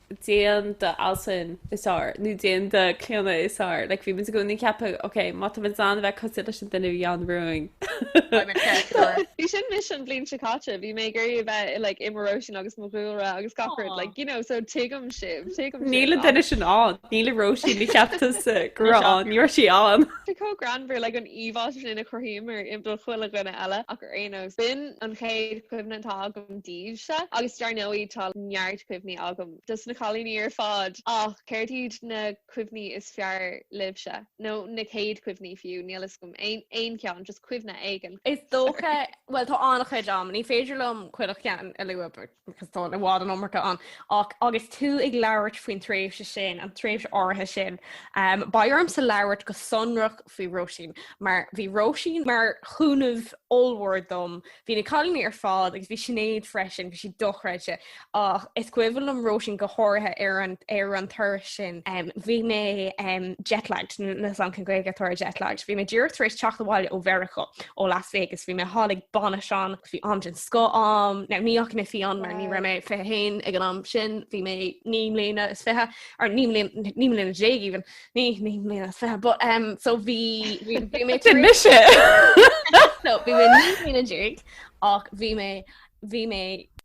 déan do Alison is fhearr, nó déan do Clíona is fhearr, like, bhí muid i gcónaí ag ceapadh, ok, má tá muid in ann a bheith cosúil leis an duine a bhí ann romhainn. I'm a character. Bhí sin mise an bhliain seo caite, bhí mé ag iarraidh a bheith i like mo Róisín agus mo Dhúlra agus gach rud, Aw. like, you know, so tuigim sibh, tuigim sibh. Níl an duine sin ann, níl i Róisín, ní cheaptar sa go raibh ann, ní raibh sí ann. Tá chomh greannmhar like an íomhá sin a chruthaíomar i do chuile dhuine eile ach ar aon nós, b'in an chéad chuimhne atá agam díbhse agus dar ndóigh tá neart cuimhní agam dos na cailíní ar fad ach céard iad na cuimhní is fearr libhse? nó na céad cuimhní fiú, níl fhios agam, aon, aon cheann, just cuimhne éigin. Is dócha, bhuel tá an-chuid am, ní féidir liom chuile cheann a lua because tá i bhfad an iomarca ann ach agus tú ag labhairt faoin tréimhse sin, an tréimhse áirithe sin, beidh ormsa labhairt go sonrach faoi Róisín mar bhí Róisín mar chúnamh ollmhór dom Bhí na cailíní ar fad, agus bhí Sinéad freisin, bhí siad dochreidte, ach is cuimhin liom Róisín go háirithe ar an, ar an turas sin, bhí mé jetlagged, níl 'fhios a'm cén Gaeilge atá ar jetlagged, bhí mé díreach tar éis teacht abhaile ó Mheiriceá, ó Las Vegas, bhí mé thall ag bainis ann, agus bhí am den scoth a'm, now ní dheachaigh mé fiáin mar ní raibh mé 21 ag an am sin, bhí mé naoi mbliana is fiche, or naoi mbliana, naoi mbliana déag even, ní naoi mbliana is fiche but um so bhí bhí bhí mé Sin mise so bhí mé naoi mbliana déag ach bhí mé bhí mé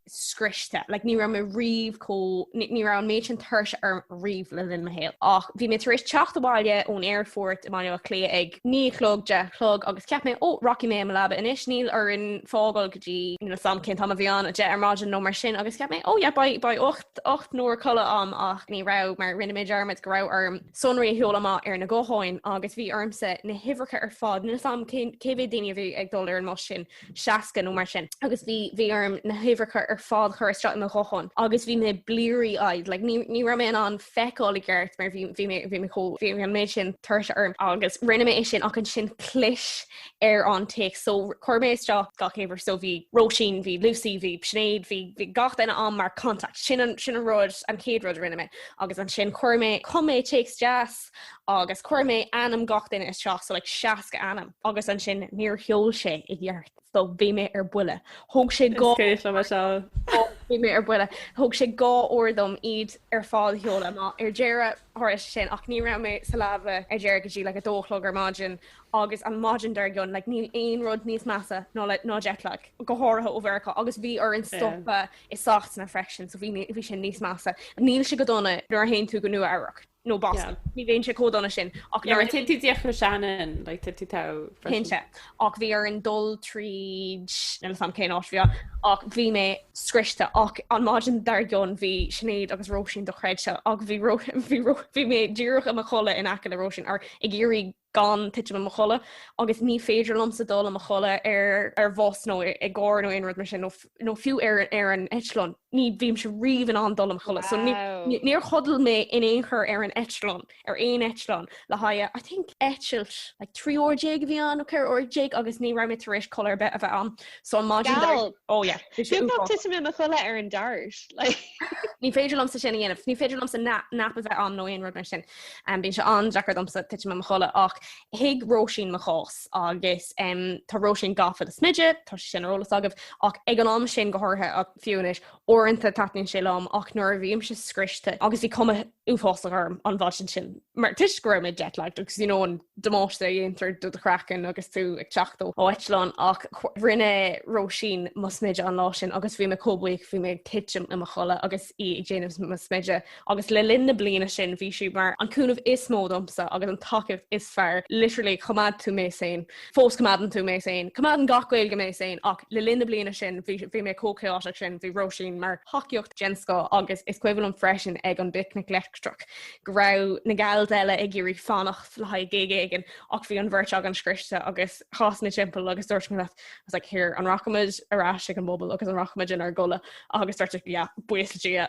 scriosta like ní raibh mé riamh chomh ní ní raibh an méid sin tuirse orm riamh le linn mo shaol ach bhí mé tar éis teacht abhaile ón aerfort i mBaile Átha Cliath ag naoi a chlog deich a chlog agus cheap mé ó rachaidh mé i mo leaba anois níl orainn fágáil go dtí níl 'fhios a'm cén t-am a bhí ann a deich ar maidin nó mar sin agus cheap mé ó beidh beidh 8 ocht n-uair codlata a'm ach ní raibh, mar rinne mé dearmad go raibh orm sonraí a sheoladh amach ar na gutháin agus bhí ormsa na huimhreacha ar fad, níl 'fhios a'm cé mhéad daoine a bhí ag dul ar an mbus sin, seasca nó mar sin, agus bhí, bhí orm na huimhreacha ar fad a chur isteach i mo ghuthán agus bhí mé bleary-eyed, like ní, ní raibh mé in ann feiceáil i gceart mar bhí, bhí mé, bhí mé chomh, bhí an méid sin tuirse orm. Agus rinne mé é sin ach ansin chlis ar an téacs. So chuir mé isteach gach uimhir, so bhí Róisín, bhí Lucy, bhí Sinéad, bhí gach duine ann mar contact. Sin an, sin an rud, an chéad rud a rinne mé. Agus ansin chuir mé, chum mé téacs deas agus chuir mé ainm gach duine isteach, so like 60 ainm. Agus ansin níor sheol sé i gceart, so bhí mé ar buile. Thóg sé dhá, Is cuimhin liom é seo. bhí mé ar buile, thóg sé dhá uair dom iad ar fad a sheoladh amach. Ar deireadh tharla sé sin, ach ní raibh mé sa leaba ar deireadh go dtí like a dó a chlog ar maidin agus an mhaidin dár gcionn, like, níl aon rud níos measa ná le, ná jetlag, go háirithe ó Mheiriceá, agus bhí orainn stopadh i Sasana freisin, so bhí, bhí sin níos measa. Níl sé go dona nuair a théann tú go Nua-Eabhrac, nó Boston, ní bhíonn sé chomh dona sin, ach nuair a théann tú díreach ó Shannon, like, téann tú teo freisin. Cinnte, ach bhí orainn dul tríd, níl 'fhios a'm cén áit bhí ann, ach bhí mé scriosta, ach an maidin dár gcionn bhí Sinéad agus Róisín, dochreidte, ach bhí Ró, bhí Ró, bhí mé díreach i mo chodladh in aice le Róisín, or ag iarraidh gan titim i mo chodladh, agus ní féidir liomsa dul i mo chodladh ar bhus nó i gcarr nó aon rud mar sin, nó fiú ar an eitleán, ní bhímse riamh in ann dul i mo chodladh. So níor chodail mé in aon chor ar an eitleán, ar aon eitleán, le haghaidh, I think, eitilt, like 13 uair a bhí ann, nó 14 uair, agus ní raibh mé tar éis codladh ar bith a bheith a'm. So an maidin dar. Geall! Oh yeah, bhí sé uafás. Beagnach titim i mo chodladh ar an Dart, like. Ní féidir liomsa sin a dhéanamh, ní féidir liomsa nap a bheith a'm nó aon rud mar sin. Bíonn sé an-deacair domsa titim i mo chodladh ach thuig Róisín mo chás agus tá Róisín gafa le smideadh, tá sé sin ar eolas agaibh, ach ag an am sin go háirithe, ach fiú anois, uaireanta taitníonn sé liom ach nuair a bhímse scriosta agus bhí cuma uafásach orm an mhaidin sin mar toisc go raibh mé jetlagged agus you know an damáiste a dhéantar do do chraiceann agus tú ag teacht ó eitleán ach rinne Róisín mo smideadh an lá sin agus bhí mé chomh buíoch bhí mé ag titim i mo chodladh agus í ag déanamh mo smideadh agus le linn na bliana sin bhí sí mar an cúnamh is mó domsa agus an tacaí is fearr, literally choimeád tú mé sane, fós coimeádann tú mé sane, coimeádann gach Gael Gal mé sane ach le linn na bliana sin bhí bhí mé chomh chaotic sin, bhí Róisín mar thacaíocht. den scoth agus is cuimhin liom freisin ag an bPicnic Leictreach go raibh na Gals eile ag iarraidh fanacht le haghaidh gig éigin ach bhí an bheirt againn scriosta agus chas mé timpeall agus dúirt mé leat I was like here an rachaimid ar ais chuig an bpuball agus an rachaimid inár gcodladh agus dúirt siad yeah buíochas Dia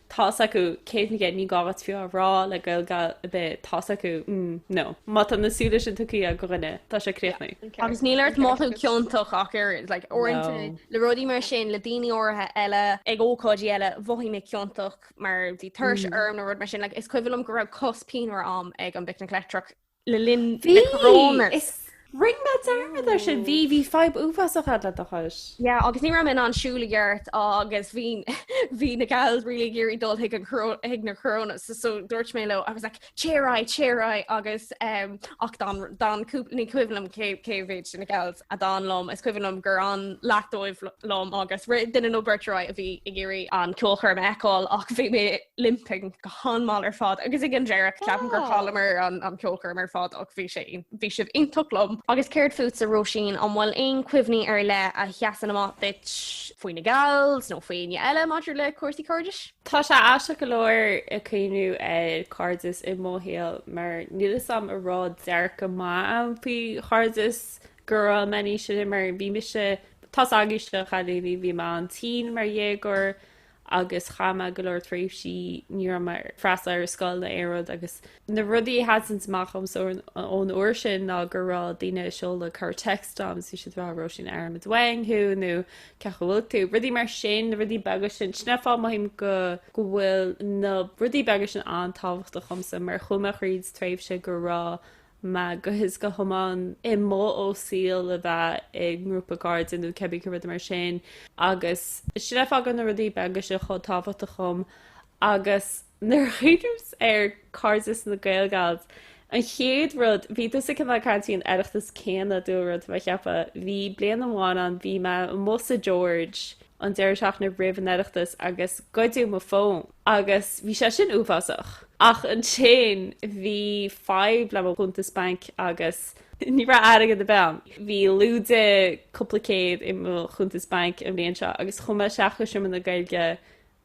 tá's acu céad faoin gcéad ní gá agat fiú a rá le Gael Gal ar bith tá's acu mm no. Má tá na súile sin tugtha agat do dhuine tá sé críochnaithe. Agus níl ort mothú ciontach ach oiread, like uaireanta No. le rudaí mar sin le daoine áirithe eile, ag ócáidí eile mhothaigh mé ciontach mar bhí tuirse orm nó rud mar sin, like is cuimhin liom go raibh cos pianmhar agam ag an bPicnic Leictreach le linn na Coronas. Bhí! Rinne mé dearmad air sin, bhí, bhí fadhb uafásach ann le do chos. Yeah, agus ní raibh mé in ann siúl i gceart agus bhí, bhí na gals really ag iarraidh dul chuig an choró, chuig na Coronas so, so dúirt mé leo I was like téigh ar aghaidh, téigh ar aghaidh agus ehm ach d'fhan, d'fhan cúpla, ní cuimhin liom cé, cé mhéid de na gals a d'fhan liom, is cuimhin liom gur fhan leath dóibh liom agus rith duine nó beirt ar aghaidh a bhí ag iarraidh an ceolchoirm a fheiceáil ach bhí mé, limping go han-mhall ar fad agus ag an deireach ceapaim gur chailleamar an cheolchoirm ar fad ach bhí sé bhí sibh iontach liom. Agus céard fútsa Róisín an bhfuil aon chuimhní ar leith a sheasann amach duit faoi na gals nó faoi éinne eile maidir le cúrsaí cairdis? Tá sé aisteach go leor ag cuimhniú ar chairdeas i mo shaol mar níl fhios a'm an raibh dearcadh maith a'm faoi chairdeas go raibh mé níos sine mar bhí mise tá a fhios agaibhse a chailíní bhí mé an-tinn mar dhéagóir agus chaith mé go leor tréimhsí ní raibh mé ag freastal ar scoil ná aon rud agus na rudaí a sheasanns amach domsa ón uair sin ná go raibh daoine ag seoladh corr-text dom is iad a rá Róisín airíonn muid uainn thú nó cén chaoi a bhfuil tú, rudaí mar sin, na rudaí beaga sin. Sin é an fáth mothaím go bhfuil na rudaí beaga sin an-tábhachtach dhomsa mar chuaigh mé thríd tréimhse go raibh mé go huile is go hiomlán imithe ó shaol le bheith i ngrúpa cairde nó cébí cén rud mar sin agus sin a fhágann na rudaí beaga seo chomh tábhachtach dhom agus nuair a chuimhnímse ar chairdeas na Gael Gals an chéad rud bhí tusa cineál ag caint faoin Oireachtas céanna dúil rud mar cheapfá bhí bliain amháin ann bhí mé amuigh sa George an deireadh seachtaine roimh an Oireachtas agus goideadh mo fón agus bhí sé sin uafásach. Ach ansin bhí fadhb le mo chuntas bainc agus ní raibh airgead ar bith agam. Bhí lúide cúpla céad i mo chuntas bainc an bhliain seo agus chuaigh mé isteach go seomra na Gaeilge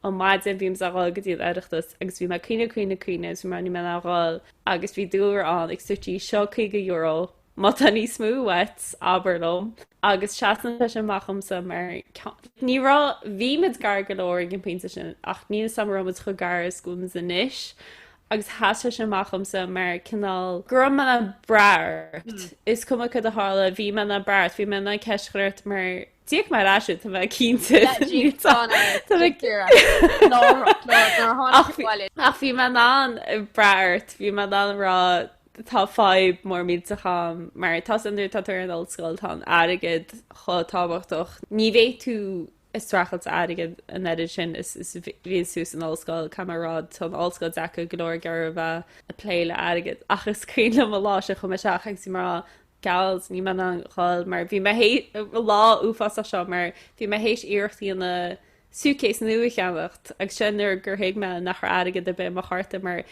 an maidin bhí muid ag dul go dtí an Oireachtas agus bhí mé ag caoineadh caoineadh caoineadh agus bhí mé níl mé in ann a dhul agus bhí Dúlra ann like sweetie seo €50, Má tá níos mó uait, abair liom. Agus seasann sé sin amach dhomsa mar ní raibh, bhí muid gar go leor ag an bpointe sin ach níl a fhios agam an raibh muid chomh gar is go bhfuil muid anois agus sheas sé sin amach dhomsa mar cineál, go raibh mé in ann brath ort. Is cuma cad a tharla, bhí mé in ann brath ort, bhí mé in ann ceist a chur ort mar d'íoc mé ar ais duit, tá mé cinnte. Ach bhí mé in ann brath ort, bhí mé in ann rá Tá fadhb mhór millteach agam, mar tá a fhios agat nuair a tá tú ar an ollscoil, tá an airgead chomh tábhachtach, ní bheidh tú ag streachailt airgid an oiread sin is bhíonns tú san ollscoil, i gcomparáid, tá an ollscoil deacair, go leor garbh ag plé le airgead, ach is cuimhin liom an lá seo chuaigh mé isteach agus bhí mé ag rá, Gals, níl mé in ann a dhul, mar bhí mé th'éis lá uafásach seo, mar bhí mé th'éis iarracht a dhéanamh, suitcase nua a cheannacht agus sin nuair gur thuig mé nach raibh airgead ar bith ar mo chárta mar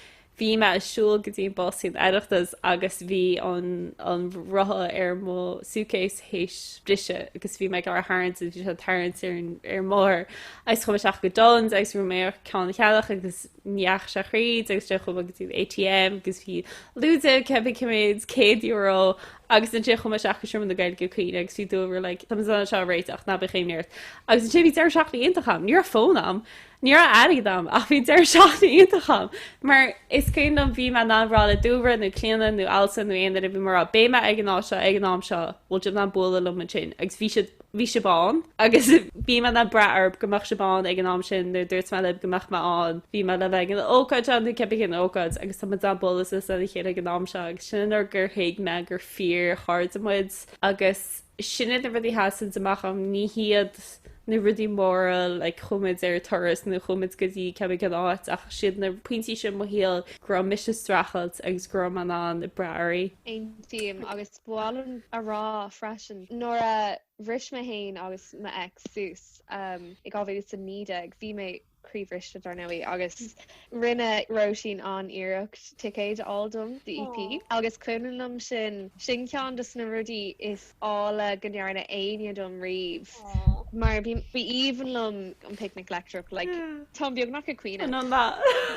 bhí mé ag siúl go dtí an bus don Oireachtas agus bhí an an rotha ar mo suitcase th'éis briseadh agus bhí mé ag iarraidh é a tharraingt agus bhí sé ag tarraingt ar an ar an mbóthar agus chuaigh mé isteach go Dunnes agus bhí mé ag iarraidh ceann a cheannach agus ní dheachaigh sé thríd agus so chuaigh mé go dtí an ATM agus bhí lúide cibé cé mhéad céad euro agus ansin chuaigh mé isteach go Seomra na Gaeilge ag caoineadh agus bhí Dúlra like táimid in ann seo a réiteach ná bíodh aon imní ort agus ansin bhí deireadh seachtaine iontach agam ní raibh fón agam ní raibh airgead agam ach bhí deireadh seachtaine iontach agam mar is cuimhin liom bhí mé in ann rá le Dúlra nó Clíona nó Ailsa nó aon duine bhí mé ag rá beidh mé ag an áit seo ag an am seo an bhfuil sibh in ann bualadh liom ansin agus bhí siad bhí sibh ann. Agus bhí mé in ann brath oraibh go mbeadh sibh ann ag an am sin, nuair a dúirt mé libh go mbeadh mé ann, bhí mé le bheith ag an ócáid seo nó cibé cén ócáid, agus tá muid ag bualadh lena chéile ag an am seo, agus sin an uair gur thuig mé gur fíor chairde muid, agus sin iad na rudaí a sheasann amach agam, ní hiad na rudaí móra, like chuaigh muid ar turas nó chuaigh muid go dtí cibé cén áit, ach siad na pointí sin i mo shaol go raibh mise ag streachailt agus go raibh mé in ann brath oraibh. Aontaím, agus Ba mhaith liom a rá freisin, nuair a bhris mé féin agus m'ex suas i 2019, bhí mé croíbhriste, dar ndóigh, agus rinne Róisín an-iarracht ticéid a fháil dom do EP, agus is cuimhin liom sin, sin ceann de na rudaí is áille go ndearna éinne dom riamh. mar bhí bhí aoibhinn liom an picnic leictreach like táim beagnach ag caoineadh An mba?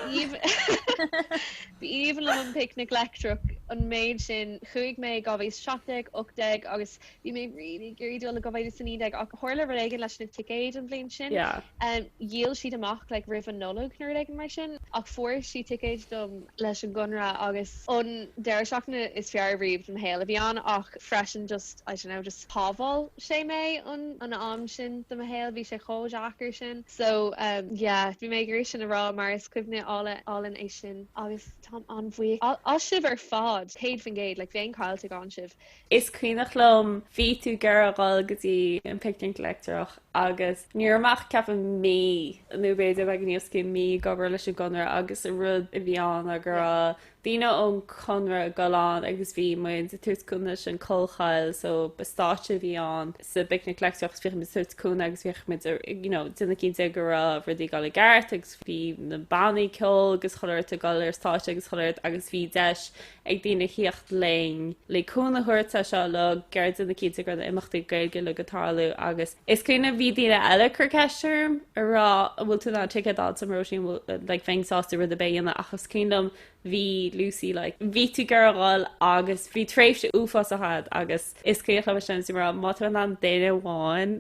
bhí aoibh- bhí aoibhinn liom an picnic leictreach an méid sin chuaigh mé i 2017, 18 agus bhí mé really ag iarraidh dul i 2019 ach tharla rud éigin leis na ticéid an bhliain sin Yeah. em, dhíol siad amach like roimh an Nollaig nó rud éigin mar sin ach fuair sí ticéid dom leis an gConradh agus an deireadh seachtaine is fearr riamh de mo shaol a bhí ann ach freisin just I don't know, just shábháil sé mé an am sin de mo shaol, bhí sé chomh deacair sin. So uhm yeah, bhí mé ag iarraidh sin a rá mar is cuimhne álainn é sin agus táim an-bhuíoch asaibh ar fad, céad faoin gcéad, like bheinn caillte gan sibh. Is cuimhneach liom, bhí tú ag iarraidh dhul go dtí an picnic leictreach agus ní raibh mé ach ceapaim mí nó b'fhéidir beagáinín os cionn mí ag obair leis an gConradh agus an rud a bhí ann ná go raibh daoine ón gConradh ag dul ann agus bhí muid ag tabhairt cúnamh leis an Collchoill so ba stáitse a bhí ann sa bPicnic Leictreach so bhíodh muid ag tabhairt cúnamh agus bhíodh muid a' you know déanamh cinnte go raibh rudaí ag dul i gceart agus bhí na bannaí ceoil agus chuile rud ag dul ar stáitse agus chuile rud agus bhí deis ag daoine thíocht linn le cúnamh a thabhairt dó seo uilig ag iarraidh déanamh cinnte go raibh na imeachtaí Gaeilge uilig ag tarlú agus Is cuimhin liom, bhí daoine eile ag cur ceist orm, ag rá an bhfuil tú in ann ticéad a fháilt dom, Róisín, like, bheinn sásta rud ar bith a dhéanamh ach is cuimhin liom, bhí Lucy, like, bhí tú ag iarraidh a dhul agus bhí tréimhse uafásach a'd agus is cuimhin liom sin is í rá má tá mé in ann duine amháin,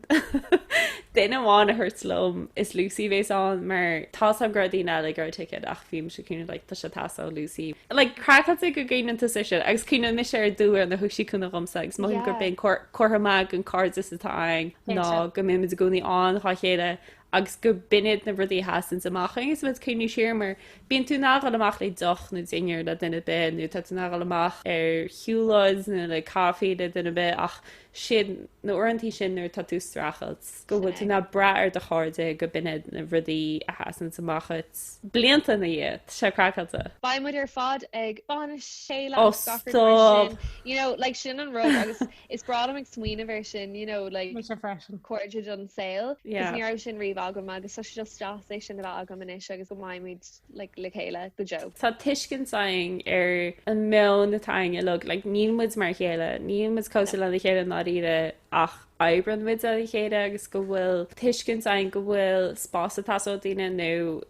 duine amháin a thabhairt liom, is Lucy a bhéas ann mar tá's a'm go raibh daoine eile ag iarraidh ticéad ach bhí mise cineál, like, tá sé ag teastáil ó Lucy, like, craiceáilte go gcuimhníonn tusa air sin agus cuimhním mise ar an uair nuair thug sí cúnamh dhomsa agus mothaím gur b'é an cór Comhartha maith den cairdeas atá againn ná go mbíonn muid i gcónaí ann dhá chéile agus go b'in iad na rudaí a sheasanns amach dhúinn agus muid ag cuimhniú siar mar bíonn tú in ann dhul amach le deoch nó dinnéar le duine ar bith nó tá tú in ann dhul amach ar shiúlóid nó le caife le duine ar bith ach sin na uaireantaí sin nuair atá tú ag streachailt. go bhfuil tú in ann brath ar do chairde, go b'in iad na rudaí a sheasanns amach dhuit. Blianta ina dhiaidh, tá sé craiceáilte. Beidh muid ar fad ag bainis a chéile agus gach rud mar sin. Oh, stop! You know, like, sin an rud agus is breá liom ag smaoineamh air sin, you know, like. Mise freisin. Cairde don saol, cos ní raibh sin riamh agam agus tá sé just deas é sin a bheith agam anois agus go mbeimid, like, le chéile go deo. Tá tuiscint againn ar an meon atá againn uilig, like, níl muid mar a chéile, níl muid cosúil lena chéile i ndáiríre ach oibreann muid lena chéile agus go bhfuil tuiscint againn go bhfuil spás ag teastáil ó dhuine nó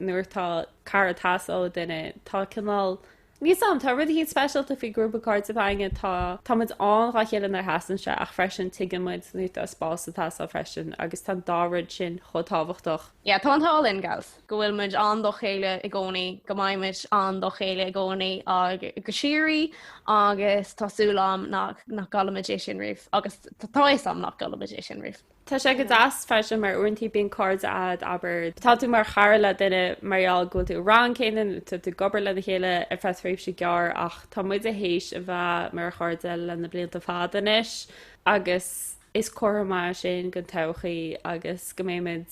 nuair tá cara ag teastáil ó dhuine tá cineál níl's a'm, tá rud eicínt speisialta faoi ghrúpa cairde a bheith againn, tá, tá muid ann dhá chéile nuair a theastaíonn sé ach freisin tuigeann muid nuair tá spás ag teastáil freisin agus tá an dá rud sin chomh tábhachtach. Yeah, tá an t-ádh linn, gals. go bhfuil muid ann dá chéile i gcónaí, go mbeidh muid ann dá chéile i gcónaí agus go síoraí agus tá súil agam nach gcaillfimid é sin riamh agus tá fhios agam nach gcaillfimid é sin riamh. Tá sé go deas freisin mar uaintí bíonn cairde agat abair tá tú mar chara le duine mar gheall go bhfuil tú sa rang céanna nó tá tú ag obair lena chéile ar feadh tréimhse ghearr ach tá muide théis a bheith mar chairde le na blianta fada anois agus Is comhartha maith sin don todhchaí agus go mbeimid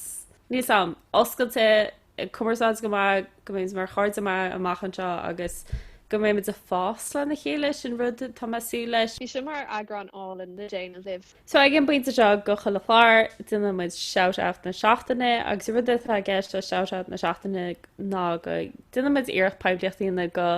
níos oscailte, ag cumarsáid go maith, go mbeimid mar chairde maithe amach anseo agus go mbeimid ag fás lena chéile, sin rud atá mé ag súil leis. Bhí seo mar eagrán álainn le déanamh libh. So ag an bpointe seo de chuile chlár, déanann muid Shout Out na Seachtaine agus an rud atá i gceist le Shout Out na Seachtaine ná go déanaimid iarracht poiblíocht a dhéanamh do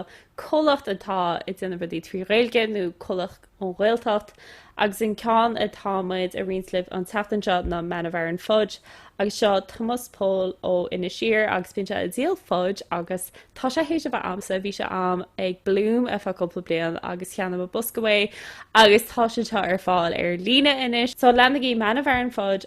chomhlacht atá ag déanamh rudaí trí Ghaeilge nó comhlacht ón Ghaeltacht, agus an ceann atá muid a roinnt libh an tseachtain seo ná Man of Aran Fudge agus seo Tomás Póil ó Inis Oírr agus bíonn sé ag díol fudge agus tá sé théis a bheith a'msa, bhí sé a'm ag Bloom ar feadh cúpla bliain agus cheannaigh mé bosca uaidh agus tá siad seo ar fáil ar líne anois so leanaigí Man of Aran Fudge